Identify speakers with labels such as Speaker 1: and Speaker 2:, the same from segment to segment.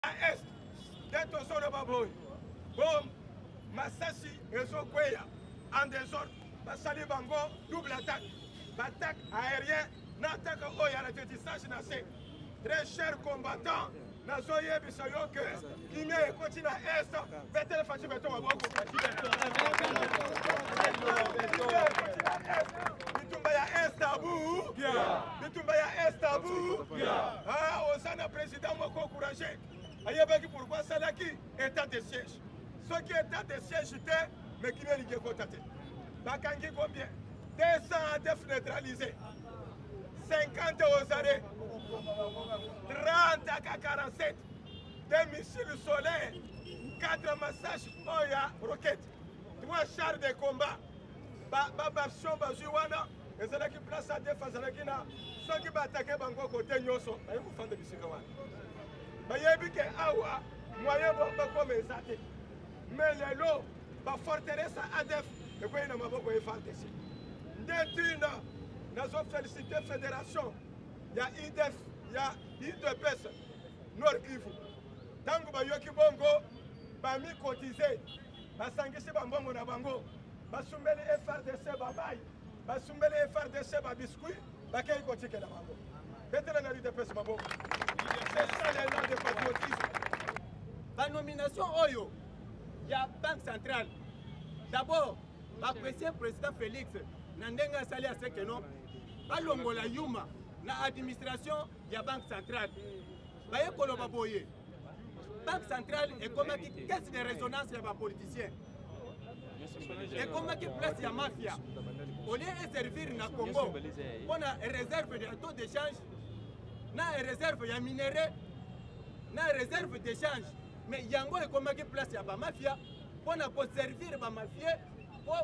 Speaker 1: na est nde tozoloba boye bom masasi ezokweya en desordre basali bango double attaque baattaque aérien na attaque oyo ya ratiotisage na se très cher combattant nazoyebisa yo ke kimia ekoti na est betele faci beto maboko bitumba ya est abu bitumba ya est abu oza na president Président moko encouragé ayebaki pourquoi asalaki état de siège soki état de siège te mais kino elingi ekota te bakangi combien 200 adef neutralisé 50 aux arrêts 30 aka 47 des missiles solaires 4 massages oyo ya roquette 3 chars de combat babaption bazwi wana ezalaki place adef azalaki na soki baatake bango kote nyonso baye kofanda bisika wana bayebi ke awa moyen bo bakoma eza te mais lelo baforteresa adef ekwei na maboko ya fardc nde ntina nazofelicite fédération ya idef ya idps nord kivu ntango bayoki bongo bamikotize basangisi bambongo na bango basumbeli frdc bamai basumbeli frdc babiscuit bakei kotikela bango betela na lidepese maboko esalela de patriotisme
Speaker 2: banomination oyo ya banque centrale d'abord baapprécie président félix na ndenge asali aseke no balongola yuma na administration ya banque centrale baye koloba boye banque centrale ekomaki caisse de résonance ya bapoliticien ekomaki place ya mafia olie eservir na congo mpo na réserve ya taux d'échange na réserve ya minerai na réserve d'échange mais yango ekomaki place ya bamafia mpo na koservir bamafie mpo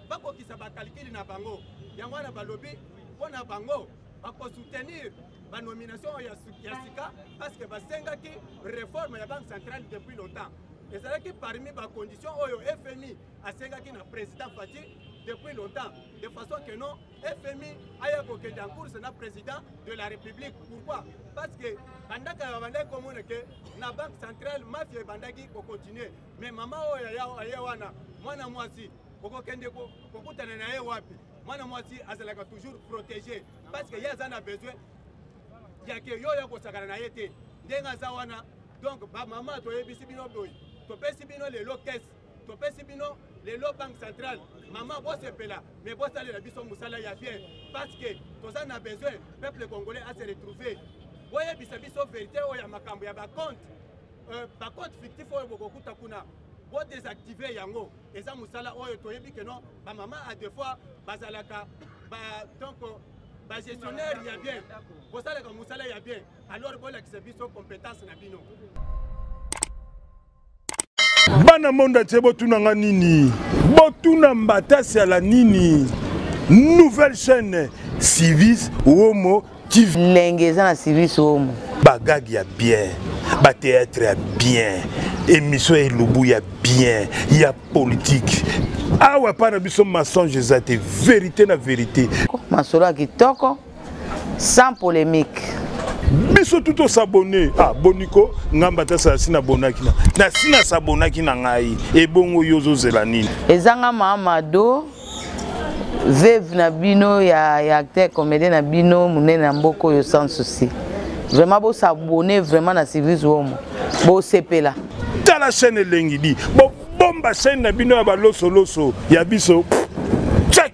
Speaker 2: bakokisa bakalikili na bango yango wana balobi mpo na bango bakosoutenir banomination ya sika parce que basengaki réforme ya banque centrale depuis longtemps ezalaki parmi bacondition oyo fmi asengaki na président fati depuis longtemps de façon que non fmi aya kokende en course na président de la république pourquoi parce que bandaka babandaki komona ke na banque centrale mafia ebandaki kocontinue mais mama oyo aye wana mwana mwasi okokende kokutana na ye wapi mwana mwasi azalaka toujours protégé parce que ye aza na besoin ya ke yo ya kosakana na ye te ndenge aza wana donc bamama toyebisi bino boye topesi bino lelo kese topesi bino lelo banque centrale mama bosepela mais bosalela biso mosala ya bien parce que toza na besoin peuple congolais ase retrouve boyebisa biso verité oyo ya makambo ya bacompte euh, ba compte fictif oyo bokokuta kuna bo désactiver yango eza musala oyo toyebi que non ba maman à deux fois bazalaka ba donc ba gestionnaire ya bien bosalaka musala ya bien alors bolakisa biso compétence na bino
Speaker 3: bana monde atie botuna nga nini botuna mbatasi ala nini nouvelle chaîne civis womo lenge eza na service
Speaker 4: omo bagage ya bien
Speaker 3: bateatre ya bien émission ya elubu ya bien ya politique awa epai na biso mensonge eza te verité na verité masolo ya kitoko
Speaker 4: sans polémique biso
Speaker 3: tu tosabone ah, boniko ngai mbata sala si nabonaki na si nasabonaki na ngai ebongo yo ozozela nini ezanga mamado
Speaker 4: veuve na bino ya, ya acteur comédien na bino monene na mboka oyo sans souci vraiment bosabone vraiment na service womo bosepela tala chaîne
Speaker 3: elengi di bobomba chaîne na bino ya balosoloso ya biso check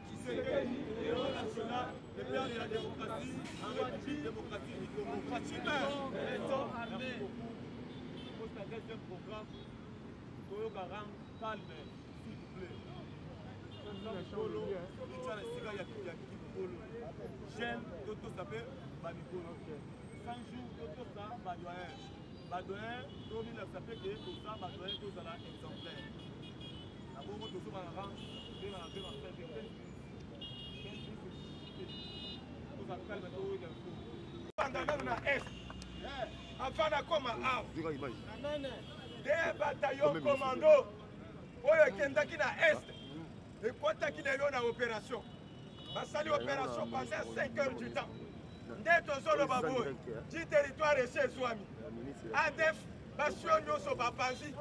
Speaker 2: Tshisekedi, héros national, le père de la démocratie, en République démocratique du Congo. Fatshima, béton armé. Pour ta deuxième programme, Toyoka Ram, calme, s'il vous plaît. mikolo etya na esika ya kiki mikolo gene totosa mpe bamikolo 100 jour totosa badoyen badoyen tominakisa mpe ke toza badoyen tozala exemplaire Na bongo tozo ba ran pe na pe na pe pe pe toza calme to wega ko. Banda nanu na est.
Speaker 1: Eh, avant na koma awa. Dika image. Amen. Des bataillons commando oyo ekendaki na est ekwataki lelo na opération basali opération pendant 5 heures du temps nde tozoloba boye ti territoire esi ezwami adef basio nyonso bapanzi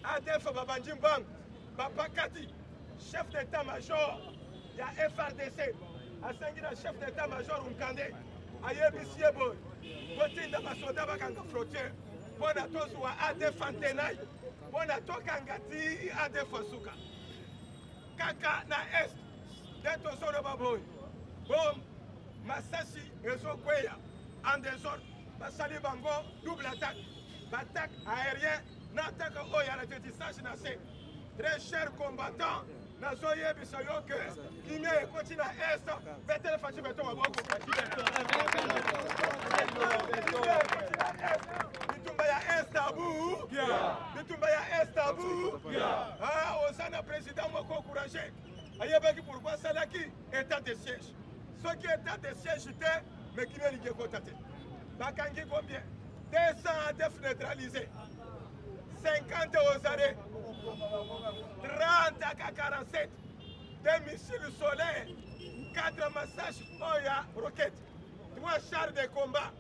Speaker 1: ADF babandi mbangu bapakati chef d'état major ya FRDC asengi na chef d'état major Nkande ayebisi ye boye kotinda basoda bakanga frontière mpo na tozwa ADF antenai mpo na tokanga ti ADF asuka kaka na est nde tozoloba boye bom masasi ezokweya en desordre basali bango double attaque baattaque aérien nataka oyo ya l'atterrissage na se très cher combattant nazoyebisa yo ke kimia ekoti na est betele faci beto maboko bitumba ya est abu bitumba ya est abu oza na président moko courage ayebaki pourkui asalaki état de siège soki état de siège te mais kimia elingi ekota te bakangi combien 200 def neutralise 50 aux arrêts 30 aka 47 des missiles solaires 4 massage oyo ya roquette 3 chars de combat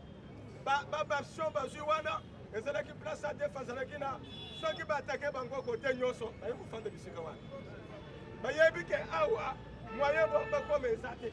Speaker 1: baversion bazwi wana ezalaki place adef azalaki na soki baatake bango kote nyonso baye kofanda bisika wana bayebi ke awa moyen bakoma eza te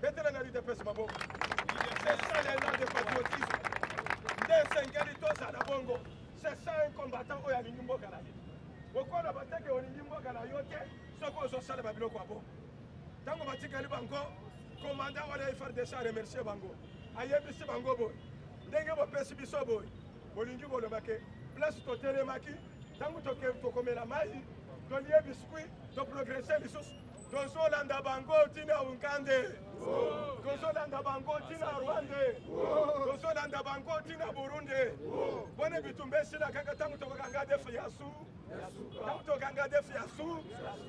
Speaker 1: Betela na l'UDPS maboko. C'est ça l'élan de patriotisme. Nde esengeli tozala bongo. C'est ça un combattant oyo alingi mboka na ye. Okola bateke olingi mboka na yo te soki ozosala babiloko ya bongo. Ntango batikali bango, komanda wana ya FARDC aremercie bango. Ayebisi bango boye. Ndenge bopesi biso boye. Bolingi koloba ke place totelemaki ntango tokomela mai tolie biskuit toprogrese lisusu tozolanda bango tina unkande tozolanda bango tina rwande tozolanda bango tina burunde bone bitumba esila kaka ntango tokokanga defu ya su ntango tokanga defu ya su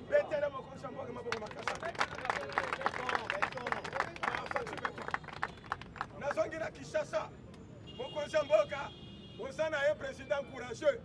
Speaker 1: betele mokonzi ya mboka maboko makasa nazongi na kinshasa mokonzi ya mboka oza na ye président courageux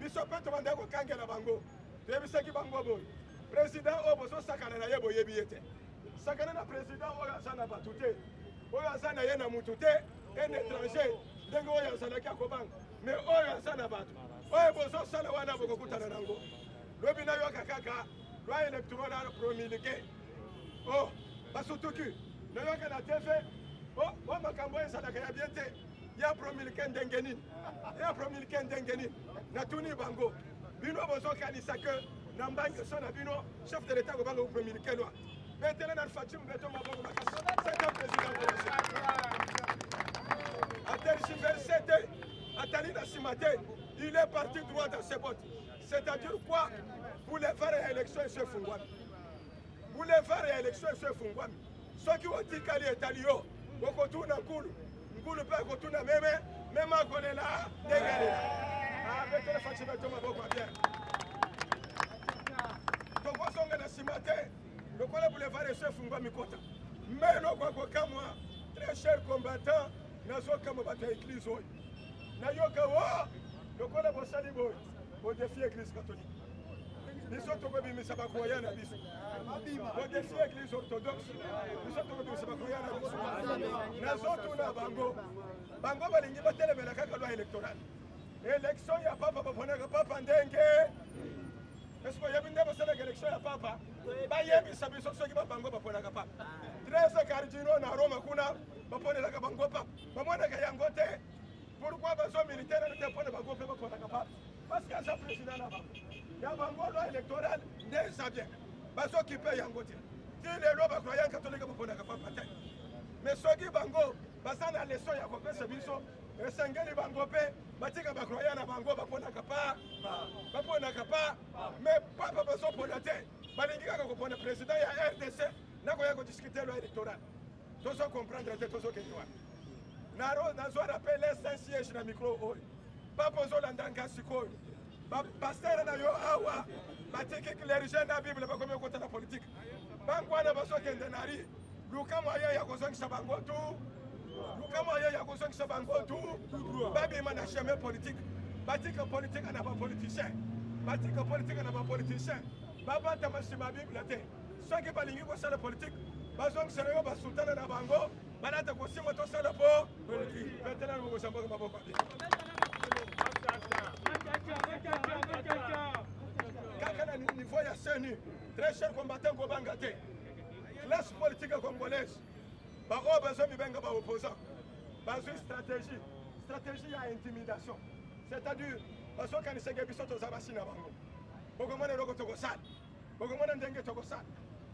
Speaker 1: biso mpe tobandaki kokangela bango toyebisaki bango boye président oyo bozosakana na ye boyebi ye te sakana na président oyo aza na bato te oyo aza na ye na motu te un étranger ndenge oyo azalaki akobanga me oyo aza na bato oyo bozosala wana bokokutana nango lobi nayoka kaka loi électorale promulgué o oh, basutuki nayoka na tv o oh, oh, makambo oyo ezalaka ya bien te ya promilke ndenge nini ya promilke ndenge nini natuni bango bino bozokanisa ke na mbange so na bino chef de l'etat kobanga promilke lwa betele na faci mbeto maboko makasi sete president atergiverse te atali na nsima te il est parti droit dans ses bottes c'est-à-dire quoi boulevard ya élection eso efungwami boulevard ya élection eso efungwami soki otikali etali yo okotuna nkulu nkulu mpe akotuna meme meme akolela ndenge alela abetela faci beto maboko ya bien tokozonga na nsima te lokola boulevard eso efungwa mikota me nokwa kokamwa très cher combattant nazokamwa bato ya eglize oyo nayoka o lokola bosali boye bodefie eglize catholique biso tokobimisa bakoya na biso bodesi eglise orthodoxe biso tokobimisa bakoya na biso nazotuna bango bango balingi batelemela kaka loi électorale élection ya papa baponaka papa ndenge esi boyebi nde bosalaka élection ya papa bayebisa biso soki babango baponaka papa trese cardino na roma kuna baponelaka bango papa bamonaka yango te pourkui bazomilitene te mpona bango mpe baponaka papa parce que aza président na bango ya bango loi électorale nde eza bien bazokipe yango te ti lelo bakroya katolike baponaka papa te mais soki bango baza na leson ya kopesa biso esengeli bango mpe batika bakroya na bango baponaka pa baponaka pa mais papa bazopona te balingi kaka kopona président ya rdc nakoya kodiskute loi électorale tozo comprendre te tozokende wapi nazwa rappel saint siège na micro oyo papa ozolanda nga sikoyo bapastere na yo awa batiki clerge na bible bakomi okota na politike bango wana bazokende na ri luka moyen ya kozongisa bango tu luka moyen ya kozongisa bango tu babima na chemin politike batika politike na bapoliticien batika politike na bapoliticien babatama nsima bible te soki balingi kosala politike bazongisela yo basultana na bango balata kosimba tosala po politike veteran mokosambaka maboko te kaka na niveau ya seni très cher combattant kobanga te classe politique congolaise baoyo bazwa mibenga baopposant bazwi stratégie stratégie ya intimidation c'est-à-dire bazokaniseke biso toza basi na bango bokomona eloko tokosala bokomona ndenge tokosala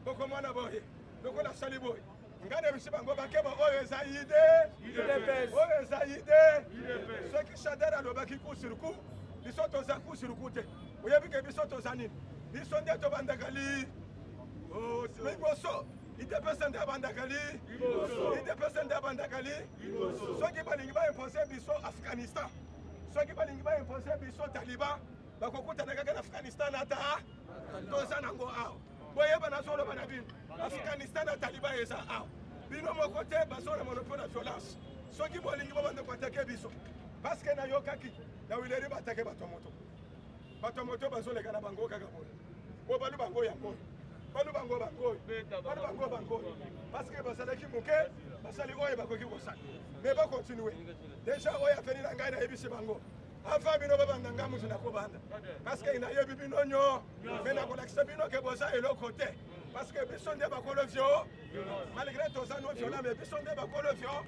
Speaker 1: bokomona boye lokola asali boye ngai nayebisi bango bakeba oyo eza ide oyo eza ide soki shadar alobaki kusuruku biso toza kusuruku te oyebi ke biso toza nini biso nde tobandaka li liboso idepese nde abandaka li idepese nde abandaka li soki balingi baimpose biso afghanistan soki balingi baimpose biso taliban bakokutana kaka na afghanistan ata toza nango awa boyeba nazoloba na bino afghanistan na taliban eza awa bino moko te bazona monopole ya violence soki bolingi bobanda koatake biso parceke nayokaki na wileri batake bato ya moto bato ya moto bazoleka na bango kaka boye oyo balu bango yango balu bango bango balu bango bango parceke bazalaki moke basali oyo bakoki kosala me bakontinue deja oyo aveni na ngai nayebisi bango avant bino babanda nga moto nakobanda parceke nayebi bino nyo me nakolakisa bino ke boza eloko te parceke biso nde bakolo vio malgré toza no viola me biso nde bakolo vio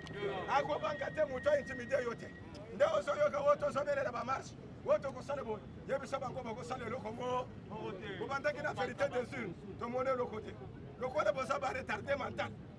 Speaker 1: akobanga te moto aintimide yo te nde ozoyoka oyo tozobelela bamarshe oyo tokosala boye yebisa bango bakosala eloko mo kobandaki na verité des urnes tomoni eloko te lokola boza baretarde mental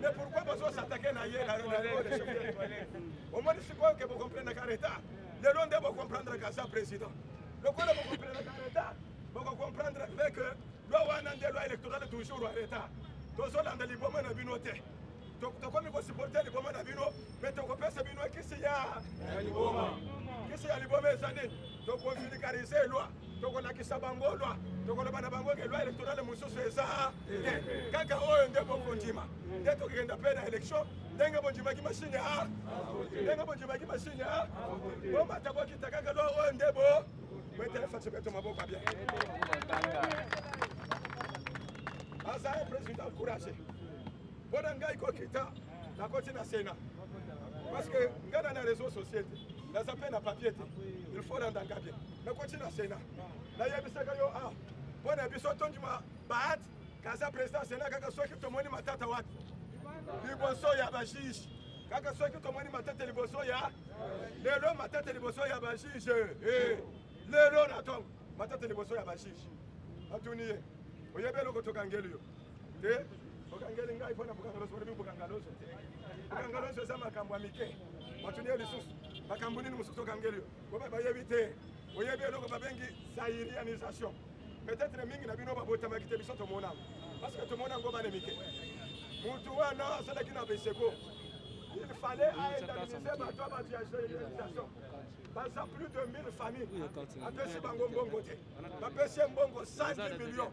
Speaker 1: Mais pourquoi bazo s'attaquer na ye na Ronaldo de chauffer les toilettes Au moins si quoi que vous comprenez qu'en état, le long de vous comprendre qu'à sa président. Le quoi vous comprenez qu'en état, vous comprendre avec loi wana nde loi électorale toujours en état. Tozolanda liboma na bino te. tokomi kosupporte liboma na bino mpe tokopesa bino kisi ya liboma kisi ya liboma eza nini tokonfilikarise loi tokolakisa bango lwa tokoloba na bango ke lwa elektorale mosusu eza te kaka oyo nde bokondima nde tokokenda mpe na elektio ndenge bondimaki masini a ndenge bondimaki masini a bomata bokita kaka lwa oyo nde bo boeteleface beto maboko bien aza president courage mpo na ngai kokita nakoti na sena parce que ngai na na réseau société naza mpe na papier te il faut landa nga bien nakoti na sena nayebisaka yo a ah, mpo na biso tondima baat kaza président sena kaka soki tomoni matata wapi liboso ya bajuge kaka soki tomoni matata liboso ya lelo matata liboso ya bajuge eh, lelo na ntongo matata liboso ya bajuge atuni ye oyebi eloko tokangeli yo te bokangeli ngai mpo na bokangaloso olobi bokangaloso bokangaloso eza makambo ya mike batuni ye lisusu makambo nini mosusu okangeli yo boba bayebi te oyebi eloko babengi zairianisation peut-être mingi na bino babotamaki te biso tomona parce que tomona yango bana mike mutu wana asalaki na beseko il fallait aindemniser bato ya bato ya généralisation baza plus de 1000 famille apesi bango mbongo te bapesi ye mbongo 110 millions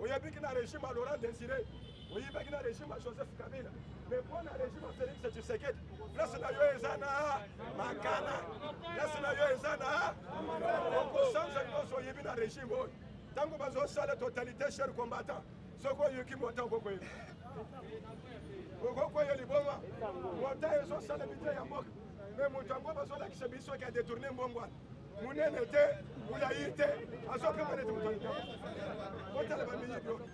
Speaker 1: oyebiki na regime ya laurent desire oyibaki na regime ya joseph kabila mais mpo na regime ya félix tshisekedi place na yo eza na makana place na yo eza na okosanza nyonso oyibi na regime oyo ntango bazosala totalite cher combattant soki oyoki mota okokoyeba okokoya liboma mota ezosalemi te ya mboka me moto yango bazolakisa biso ke adetourne mbongo wana monene te molayi te azokanga neti moto alika botala bamiyibi oyo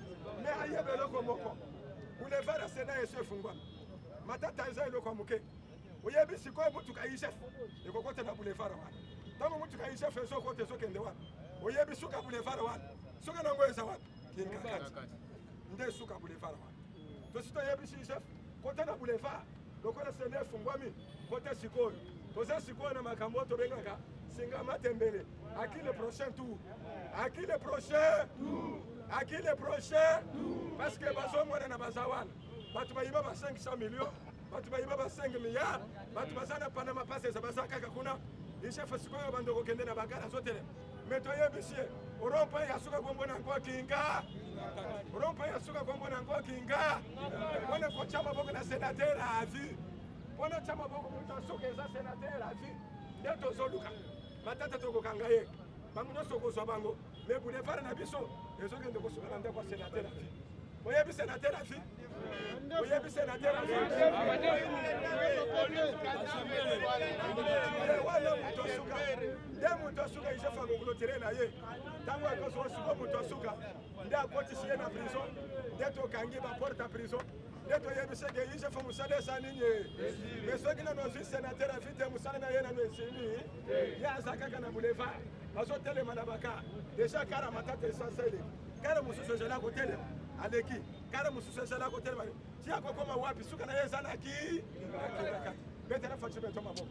Speaker 1: me ayeba eloko moko boulevard ya sena yesu efungwami matata eza eloko ya moke oyebi sikoyo motuka isef ekokota na boulevard wana ntango motuka isef ezokota ezokende wana oyebi suka boulevard wana suka nango eza wapi kinkakati nde suka boulevard wana tosi toyebisi yusef kota na boulevard lokola sende efungwami kota sikoyo toza sikoyo na makambo oyo tobengaka singa matembele aki le prochain tour aki le prochain aki le prochain parce que bazomonana baza wana bato bayiba ba 500 million bato bayiba ba 5 milliard bato baza na panama pasesa baza kaka kuna isefa sikoyo bando kokende na bagala azotelema me toyebisi ye orompa ya suka kombo na yango kinga orompa ya suka kombo na yango kinga mpona kotya maboko na senatere ya avi mpona otya maboko moto ya suka eza senatere ya avi nde tozoluka matata tokokanga ye bango nyonso okozwa bango me boulevard na biso ezokende kosuka na ndako ya senatere ya vi oyebi senatere ya vi oyebi senateur wana moto asuka nde moto asuka isefu akoklotire na ye ntango akosuka suka moto asuka nde akotisi ye na prison nde tokangi baporte ya prison nde toyebisi ete yusefu mosala esa nini me soki nano ozwi senateur afi te mosala na ye nano esili ye aza kaka na boulevard azotelema na baka deja kara matata esanseli kara mosusu ezali akotelema aleki kala mosusu ezala kotelema ti akokoma wapi suka na ye eza na ki betela faci beto maboko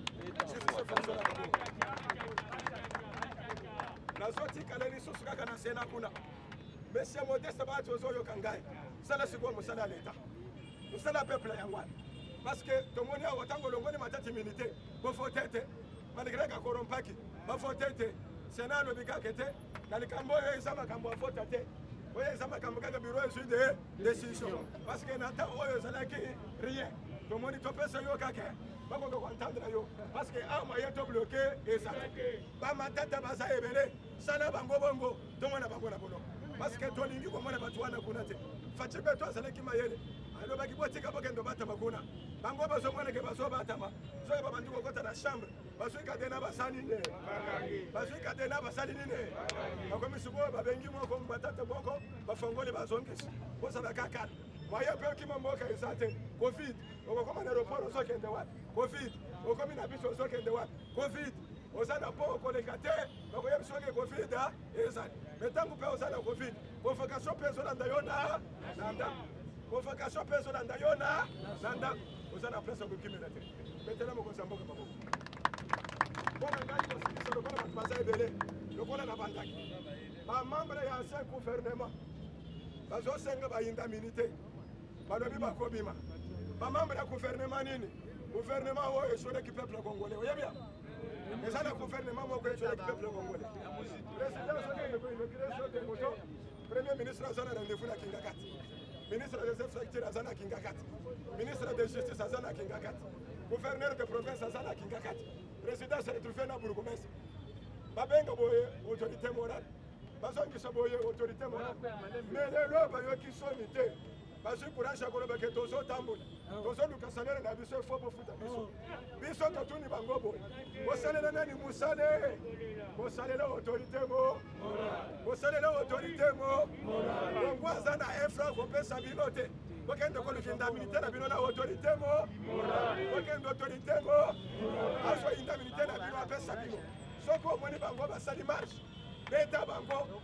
Speaker 1: nazotikala lisusu kaka na sena kuna monsieur modeste bato ozoyoka ngai sala sikoyo mosala ya leta mosala ya peuple yango wana parce que tomoni awa ntango olongoli matati minite bofote te manigreka korompaki bafote te sena alobi kaka te na likambo oyo eza makambo ya vota te oyo eza makambo kaka biro ezwi de décision parce que na temps oyo ezalaki rien tomoni topesa yo kaka bakoka koentendre yo parce que a moyen to bloke eza bamatata baza ebele sala bango bongo tomona bango na bono parce que tolingi komona bato wana kuna te faci mpe to azalaki mayele alobaki botika bokende obatama kuna bango bazomoneke bazobatama soki babandi kokota na chambre bazwi katena basali nde bazwi katena basali nini bakomi sikoyo babengi moko batate moko bafongoli bazongisi bozala kaka moye mpe okima mboka eza te covid okokoma na aeroport ozokende wapi covid okomi na biso ozokende wapi covid oza na mpo okoleka te bakoyebi soki covid ah, ezali me ntango mpe oza na covid convocation mpe ezolanda yo na na ndako convocation mpe ezolanda yo na na ndako oza na place ya kokimela te betela mokonzi ya mboka maboko mpo na ngai kosilisa lokola bato baza ebele lokola na bandaki bamembre ya ancien gouvernement bazosenga bayinda mini te balobi bakobima bamembre ya gouvernement nini gouvernement oyo esoleki peuple congolais oyebi ya eza na gouvernement moko esoleki peuple congolais président soki inauguration te moto Premier ministre aza na rendez-vous na Kingakati. Ministre des Infrastructures aza na Kingakati. Ministre de Justice aza na Kingakati. Gouverneur de province aza na Kingakati. Président se retrouve na bourgmestre. Babenga boye autorité morale. Bazongisa boye autorité morale. Mais lelo bayoki soni te. bazwi courage ya koloba ke tozotambola ah. tozoluka salele na biso efo bofuta biso ah. biso totuni bango boye bosalela nani mosale bosalela autorité mo bosalela autorité mo kongo aza na infra kopesa bino te bokende kolukinda militaire na bino na autorité mo bokende autorité mo azoyinda militaire na bino apesa bino soki omoni bango basali marche beta bango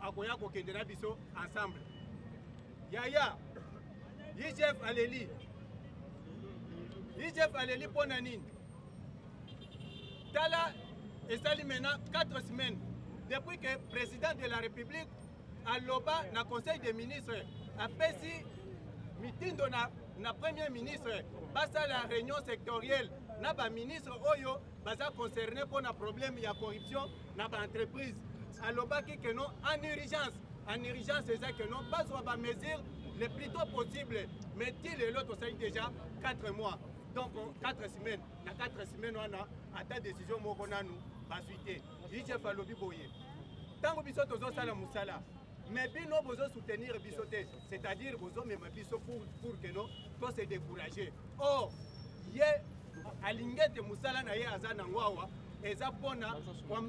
Speaker 2: akoya kokende na biso ensemble yaya igf aleli igf aleli mpo na nini tala esali maintenant 4 semaines depuis que président de la république aloba na conseil des ministres apesi mitindo na, na premier ministre basala réunion sectorielle na baministre oyo baza concerne mpo na problème ya corruption na baentreprise alobaki que non en urgence en urgence eza que non bazwa bamesure le plus tôt possible mais ti lelo tosali déjà 4 mois donc 4 semaines na 4 semaines wana ata décision moko nanu bazwi te igf alobi boye ntango biso tozosala mosala mais bino bozo soutenir biso te c'est à dire bozo mema biso pour, pour que no to se décourager or ye alingi ete mosala na ye aza nango awa eza mpona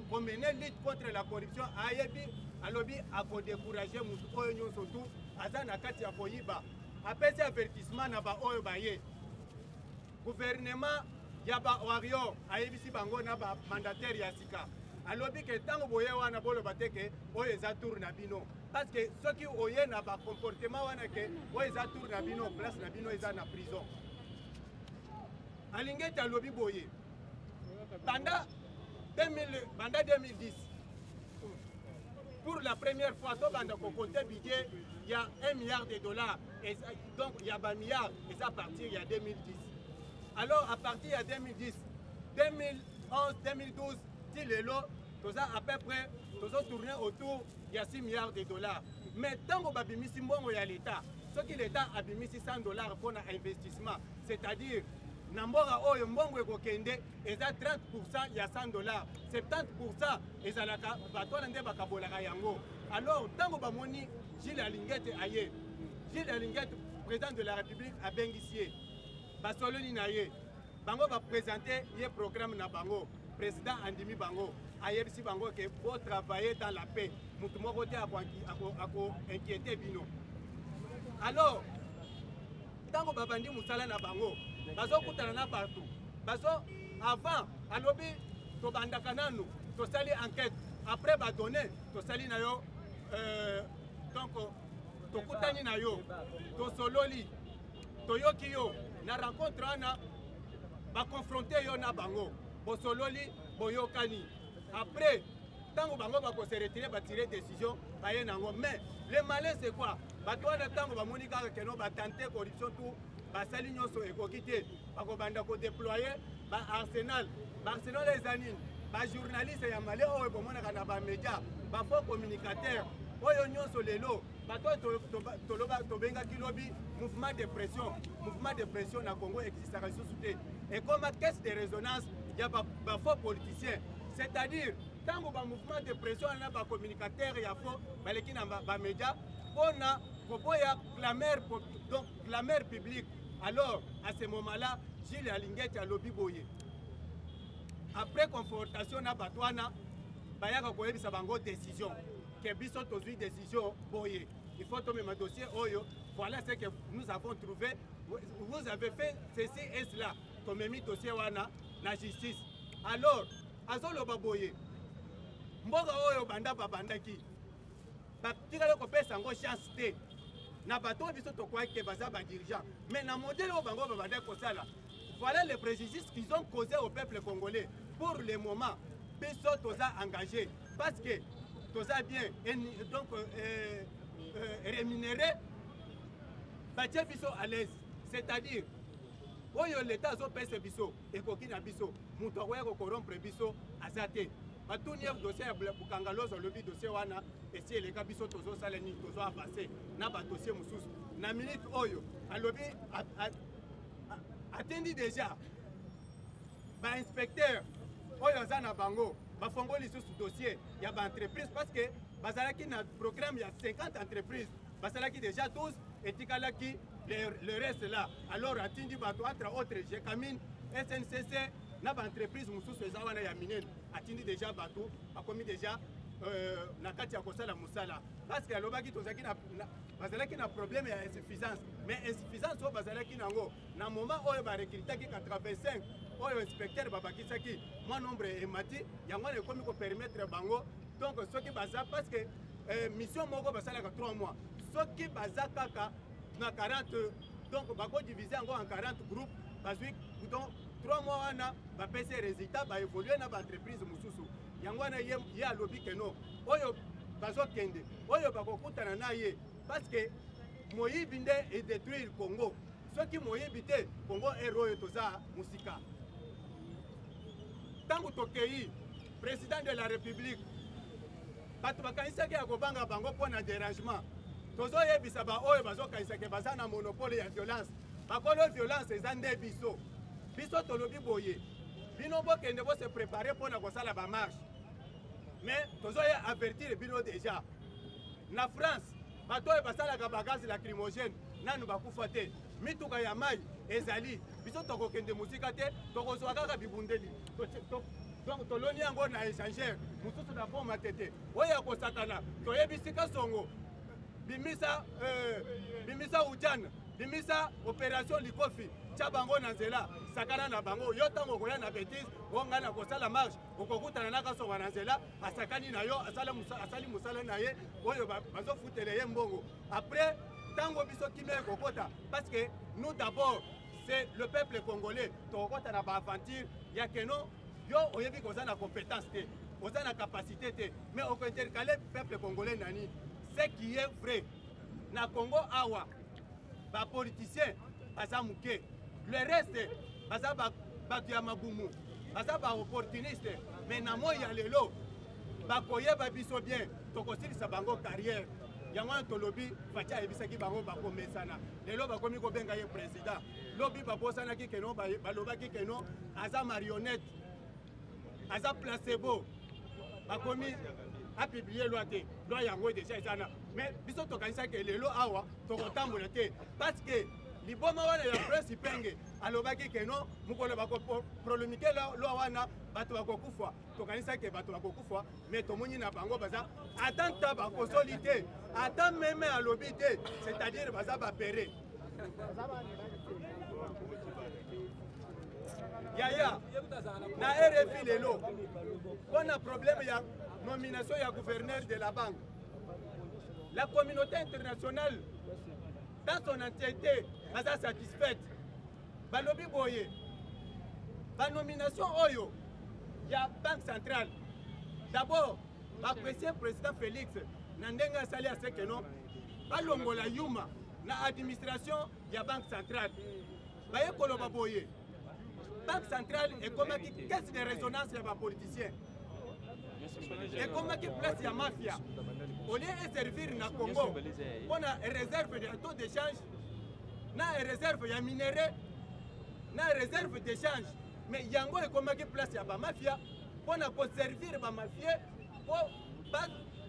Speaker 2: komene lutte contre la corruption ayebi alobi akodecourage motu oyo nyonso tu aza na kati ya koyiba apesi avertissement na baoyo baye Guvernema ya ba warrior ayebisi bango na ba mandataire ya sika alobi ke ntango boye wana boloba te ke oyo eza tour na bino parce que soki oye na ba comportement wana ke oyo eza tour na bino place na bino eza na prison alingi ete alobi boye banda 2000 banda 2010 pour la première fois tobanda kokote budget ya 1 milliard de dollars donc ya ba milliard eza à partir ya 2010 alors à partir ya 2010 2011 2012 ti lelo toza à peu près tozo tourner autour ya 6 milliards de dollars mais ntango babimisi mbongo ya leta soki leta abimisi 100 dollars mpo na investissement c'est-à-dire na mboka oyo mbongo ekokende eza 30 ya 100 dollars 70 ezalaka bato wana nde bakabolaka yango alors ntango bamoni Gilles Alingete aye. Gilles Alingete, président de la République, abengisi ye. Basololi na ye. Bango ba présenter ye programme na bango. Président andimi bango. Ayebisi bango que bo travailler dans la paix. Mutu moko te ako ako inquiéter bino. Alors, ntango babandi mosala na bango bazokutana na bato bazo avant alobi tobandaka nanu tosali enquête après badonne tosali na yo euh, donc tokutani na yo tosololi toyoki yo na rencontre wana bakonfronte yo na bango bosololi boyokani après ntango bango bakose retire batire décision baye na yango mais le malin c'est quoi bato wana ntango bamoni kaka keno batante corruption tout basali nyonso ekoki te bakobanda kodeploye ba arsenal ba arsenal eza nini bajournaliste ya male oyo bomonaka na bamedia bafaux communicateur oyo nyonso lelo bato oyo tobengaki lobi mouvement de pression mouvement de pression na congo existaka lisusu te ekoma caisse de résonance ya bafaux politicien c'est-à-dire ntango bamouvement de pression wana bacommunicateur ya faux baleki na bamedia mpo na koboya clameur donc clameur publique Alors, à ce moment-là, Gilles Alingeti alobi boye. Après confrontation na bato wana, bayaka koyebisa bango décision. Que biso tozwi décision boye. Il faut tomema dossier oyo. Voilà ce que nous avons trouvé. Vous avez fait ceci et cela. Tomemi dossier wana na justice. Alors, azoloba boye. Mboka oyo banda babandaki. batikali kopesa yango chance te na bato oyo biso tokwaki ke baza badirigeant mais na modele oyo bango babandaki kosala voilà les préjudices qu'ils ont causé au peuple congolais pour le moment biso toza engagé parce que toza bien donc euh, euh, rémunéré batie biso à l'aise c'est-à-dire oyo leta azopesa biso ekoki na biso moto akoya kokorompre biso aza te batuni ye dossier ya bukanga lozo alobi dossier wana esi eleka biso tozosala nini tozo avance na badossier mosusu na minute oyo alobi atendi déjà bainspecteur oyo aza na bango bafongoli lisusu dossier ya baentreprise parce que bazalaki na programme ya 50 entreprise basalaki déjà 12 etikalaki le, le reste là alors atindi bato entre autres jecamine sncc na baentreprise mosusu eza wana ya minene atindi déjà bato bakomi déjà euh, na kati ya kosala mosala parce que alobaki tozalaki bazalaki na problème ya insuffisance mais insuffisance oyo bazalaki nango na moment oyo ba recrutaki 85 oyo inspecteur babakisaki mwa nombre emati yango wana ekomi kopermettre bango donc soki baza parce que eh, mission moko basalaka 3 mois soki baza kaka na 40 donc bakodivise yango en 40 groupe bazwi donc 3 mois wana bapesi résultat baévolue na baentreprise mosusu yango wana ye alobi keno oyo bazokende oyo bakokutana na ye parce que moyibi nde e détruire Congo soki moyibi te Congo ero oyo toza musika ntango tokei président de la république bato bakanisaki ya kobanga bango mpo na dérangement tozoyebisa baoyo bazokanisake baza na monopole ya violence bakolo violence eza nde biso biso tolobi boye bino bokende bose prépare mpo na kosala bamarshe mais tozo ya avertir bino deja na France bato oyo basalaka bagaz lacrymogène nanu bakufa te mituka ya mai ezali biso tokokende mosika te tokozwa kaka bibundeli donc toloni yango na échangeur mosusu na boma tete oyo ya kosakana toyebisi kasongo bimisa euh, bimisa ujana bimisa opération likofi tya bango na nzela sakana na bango yo ntango okoya na bétise o ngai nakosala marche okokutana na kasonga na nzela asakani na yo asali mosala na ye oyo bazofutela ye mbongo après ntango biso kimia ekokota parce que nous d'abord c'est le peuple congolais tokokota na baaventure ya keno yo oyebi koza na compétence te oza na capacité te mais okointercale peuple congolais nani ce qui est vrai na congo awa ba politiciens baza muke le reste baza bato ya mabumu baza ba opportuniste mais na moi ya lelo bakoyeba biso bien tokosilisa bango carrière yango wana tolobi faci ayebisaki bango bakomesana lelo bakomi kobenga ye président lobi babosanaki keno balobaki keno aza marionnette aza placebo bakomi apiblie loi te loi yango deja eza na mais biso tokanisaki ke lelo awa tokotambola te parce que liboma wana ya prince penge alobaki ke non mokolo bakoprolomike lwa wana bato bakokufa tokanisaki ke bato bakokufa mais tomoni na bango baza ata nta bakosoli te ata meme alobi te c'est-à-dire baza bapere yaya na rfi lelo mpo na problème ya nomination ya gouverneur de la banque la communauté internationale dans son entièreté baza satisfaite balobi boye banomination oyo ya banque centrale d'abord baapprécie président félix na ndenge asali aseke no balongola yuma na administration ya banque centrale baye koloba boye banque centrale ekomaki caisse de résonance ya bapoliticien ekomaki place ya mafia olie eservir na congo mpo na réserve ya taux d'échange na réserve ya minerai na réserve d'échange mais yango ekomaki place ya bamafia mpo na koservir bamafie mpo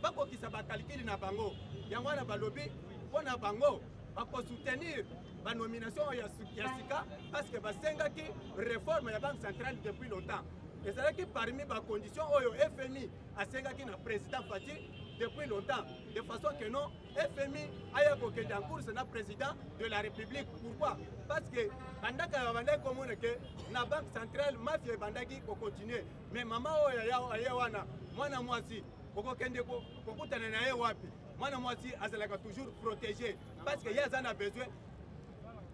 Speaker 2: bakokisa bakalikili na bango yango wana balobi mpo na bango bakosoutenir banomination ya sika parce que basengaki réforme ya banque centrale depuis longtemps ezalaki parmi bacondition oyo fmi asengaki na président fati depuis longtemps de façon que non fmi aya kokende en course na président de la république pourquoi parce que bandaka babandaki komona ke na banque centrale mafia ebandaki kocontinue mais mama oyo aye wana mwana mwasi okokende kokutana na ye wapi mwana mwasi azalaka toujours protégé parce que ye aza na besoin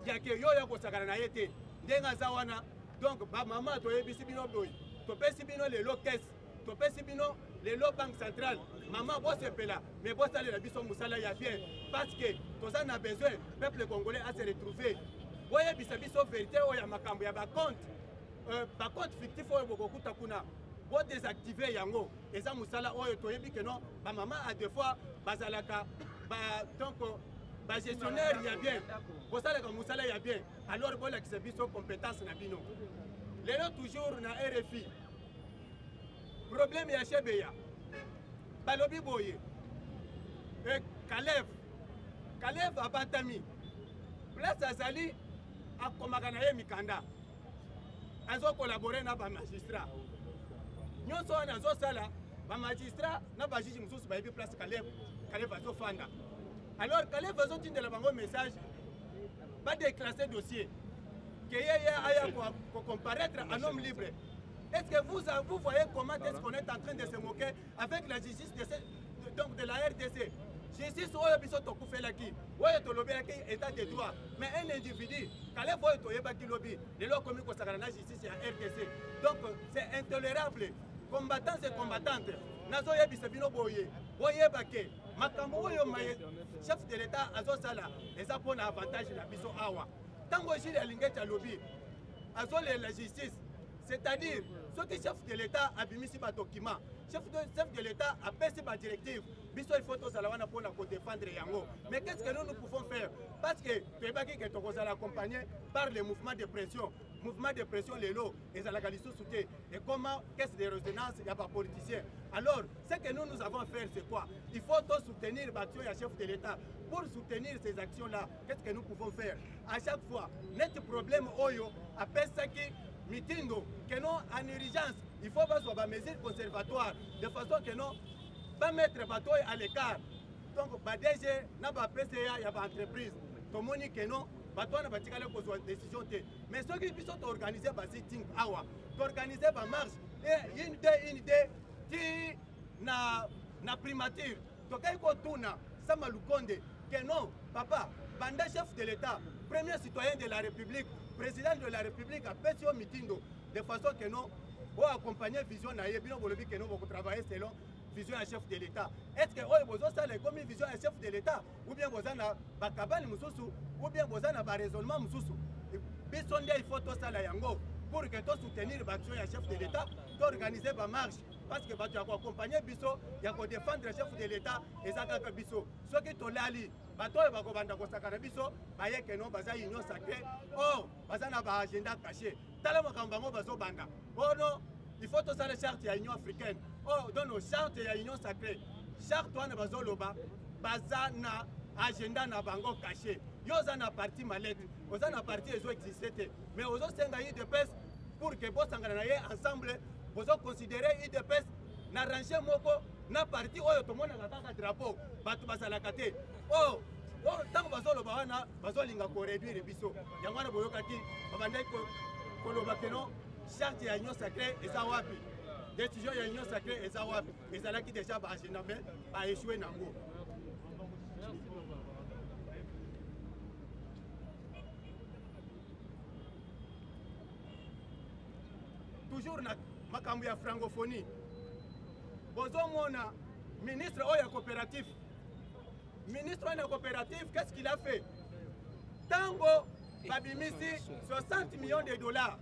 Speaker 2: ya ke yo ya kosakana na ye te ndenge aza wana donc bamama toyebisi bino boye topesi bino lelo kese topesi bino lelo banque centrale mama bosepela mais bosalela biso mosala ya bien parce que toza na besoin peuple congolais ase retrouve boyebisa biso verité oyo ya makambo ya bacompte euh, ba compte fictif oyo bokokuta kuna bo désactiver yango eza musala oyo toyebi que non ba maman à deux fois bazalaka ba donc ba gestionnaire ya bien bosalaka musala ya bien alors bolakisa biso compétence na bino lelo toujours na RFI problème ya Chebeya balobi boye e Kalev Kalev abatami place azali akomaka na ye mikanda azo collabore na ba magistrat nyonso wana azosala ba magistrat na ba juge mosusu bayebi place kaleb kaleb azofanda alors kaleb azotindela bango message badeclasse dossier que ye ye aya kocomparaître en homme libre est ce que vous, vous voyez comment est ce qu'on est en train de se moquer avec la justice de, cette, donc de la rdc justice oyo biso tokufelaki oyo tolobelaki état de droit mais un individu kalef oyo toyebaki lobi lelo akomi kosakana na justice ya rdc donc c'est intolérable combattants et combattantes nazoyebisa bino boye boyeba ke makambo oyo maye chef de l'état azosala eza mpo na avantage na biso awa ntango jile alingeti alobi azolela justice c'est-à-dire soki chef de l'état abimisi badokima chef de, chef de l'état apesi badirective biso il faut tozala wana mpona kodefendre yango mais qu'est ce que nous nous pouvons faire parce que toyebaki ke tokozala accompagné par le mouvement de pression mouvement de pression lelo ezalaka lisusu te ekoma caisse de résonance ya bapoliticien alors ce que nous nous avons faire c'est quoi il faut tosoutenir baction ya chef de l'état pour soutenir ces actions là Qu'est-ce que nous pouvons faire à chaque fois neti problème oyo apesaki mitindo que non en urgence il faut bazwa ba mesures conservatoires de façon que non ba mettre bato oyo à l'écart donc ba DG na ba PCA ya ba entreprise tomoni que non bato wana batikali kozwa décision te mais soki biso toorganize ba sitting awa toorganize ba marche une de une de ti na, na primature Tokei kotuna Sama Lukonde que non, papa, banda chef de l'État, premier citoyen de la République, président de la République apesi yo mitindo de façon que non oyo accompagne vision na ye bino bolobi que non bokotravaille selon vision ya chef de l'État. Est-ce que oyo bozosala ekomi vision ya chef de l'État ou bien boza na bakabani mosusu ou bien boza na baraisonnement mosusu biso nde il faut tosala yango pour que tosoutenir baaction ya chef de l'État toorganiser bamarche parce que bato ya koakompagne biso ya kodefendre chef de l'état eza kaka biso soki tolali bato oyo bakobanda kosakana biso baye keno baza union sacré or baza na baagenda caché tala makambo bango bazobanda ono il faut tosala charte ya union africaine o dono charte ya union sacré charte wana bazoloba baza na agenda na bango caché yo oza na parti malete oza na parti ezo existe te mais ozosenga udps pour que bosangana na ye ensemble bozo considere udps na range moko na parti oyo tomonaka kaka drapeau bato bazalaka te oyo oh, oyo oh, ntango bazoloba wana bazolinga koreduire biso yango wana boyokaki babandaki koloba keno charte ya union sacré eza wapi décision ya union sacré eza wapi ezalaki déjà baagenda me baechoue nango toujours na makambo ya francophonie bozomona ministre oyo ya coopérative ministre oyo ya coopérative qu'est ce qu'il a fait ntango babimisi 60 millions de dollars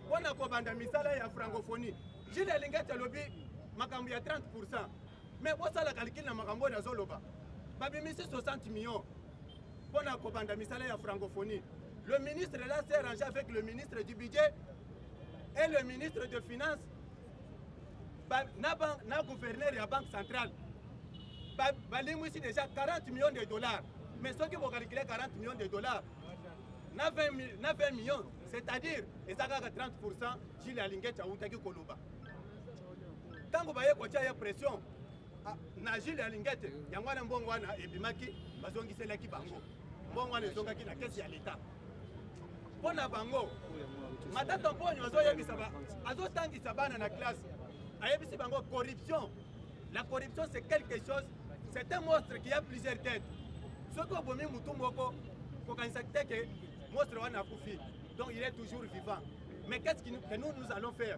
Speaker 2: mpo na kobanda misala ya francophonie jile elingeti alobi makambo ya 30 pourcent mais bosala calcule na makambo oyo nazoloba babimisi 60 millions mpo na kobanda misala ya francophonie le ministre là s'est rangé avec le ministre du budget et le ministre de finance ba, na, ban, na gouverneur ya banque centrale balimwisi ba déjà 40 millions de dollars mais soki bokalikile 40 millions de dollars na 20, na 20 millions c'est-à-dire eza kaka 30 pourcent jile alingeti autaki koloba ntango baye kotya ye pression Ah, na jile ya lingete yango wana mbongo wana ebimaki bazongiselaki bango mbongo wana ezongaki na kesi ya leta mpo na bango matata mponyo azoyebisa azotangisa bana na classe ayebisi bango corruption la corruption c'est quelque chose c'est un monstre qui a plusieurs têtes soki obomi motu moko kokanisa te ke monstre wana akufi donc il est toujours vivant mais qu'est ce que nous, que nous, nous allons faire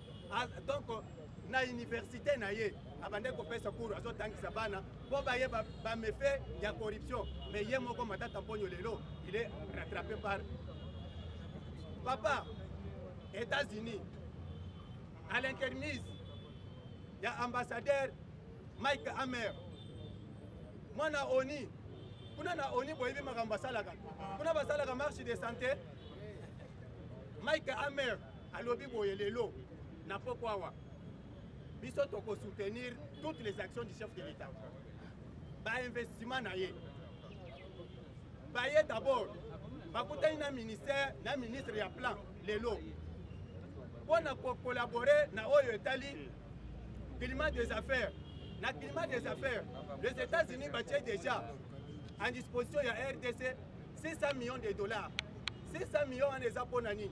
Speaker 2: Ah, donc na université na ye abandaki kopesa cours azotangisa bana mpo baye bamefe ba ya corruption mais ye moko matata mponyo lelo il est rattrapé par papa états-unis à l'intermise ya ambassadeur mike amer mwana oni kuna na oni boyebi makambo basalaka kuna basalaka marche de santé mike amer alobi boye lelo na poko awa biso toko soutenir toutes les actions du chef de l'état bainvestissement na ye baye d'abord bakutani na ministère na ministre ya plan lelo mpo na kocollabore na oyo etali climat des affaires na climat des affaires les états-unis batie déjà en disposition ya rdc 600 millions de dollars 600 millions wana eza mpo na nini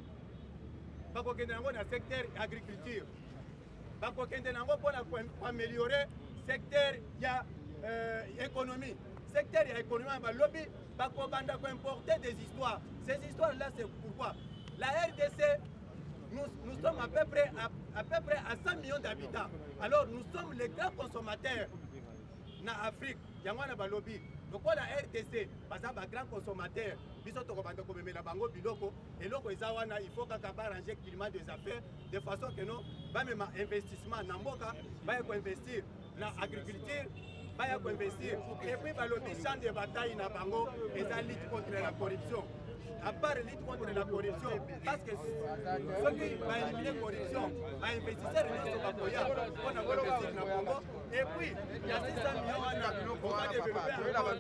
Speaker 2: bakokende nango na secteur ya agriculture bakokende nango mpo na koameliore secteur ya euh, économie secteur ya économie ya balobi bakobanda koimporter des histoires ces histoires là c'est pourquoi la rdc nous, nous sommes à peu près à, à, peu près à 100 millions d'habitants alors nous sommes les grands consommateurs na afrique yango wana balobi lokola rdc baza bagrand consommateur biso tokobanda komemela bango biloko eloko eza wana il faut kaka barange climat des affaires de façon que no bamema investissement na mboka baye koinvestir na agriculture baya koinvestir epuis balobi champ de bataille na bango eza lutte contre la corruption à part lutte contre la corruption parce que soki baelimine corruption bainvestisseur nyonso bakoya mpo na koinvestir na congo epuis ya 600 million wana okodevelope encore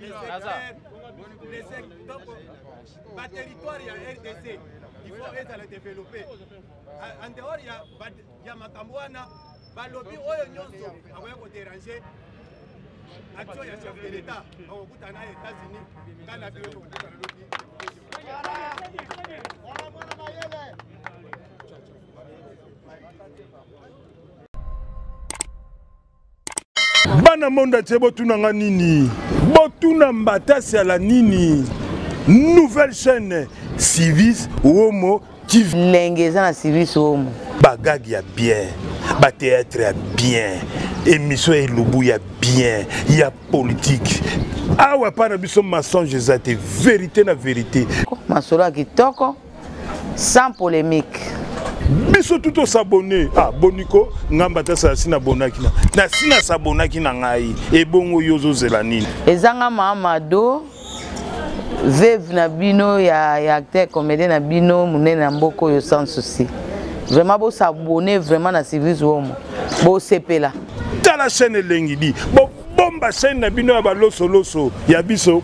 Speaker 2: les secteurs ba territoire ya rdc il faut ezala développe en dehors ya, ya makambo wana balobi oyo nyonso akoya koderange action ya chef de l'état bakokutana na états-unis ngai na bino tokokutana lobi Thank you.
Speaker 3: bana monde atie botuna nga nini botuna mbatasi ala nini nouvelle chaîne civis womo tv lenge eza na civis
Speaker 4: womo bagage ya
Speaker 3: bien bateatre ya bien émission ya elubu ya bien ya politique awa epai na biso mensonge eza te verité na verité masolo ya
Speaker 4: kitoko sans polemique biso
Speaker 3: tout osabone ah boniko ngai mbatasa asi nabonaki na nasi nasabonaki na ngai ebongo yo
Speaker 4: ozozela
Speaker 3: nini ezanga mamado
Speaker 4: veve na bino ya, ya acteur comédien na bino monene na mboka oyo sans souci vraiment bosabone vraiment na service womo bosepela tala chaîne
Speaker 3: elengi di bobomba chaîne na bino ya balosoloso ya biso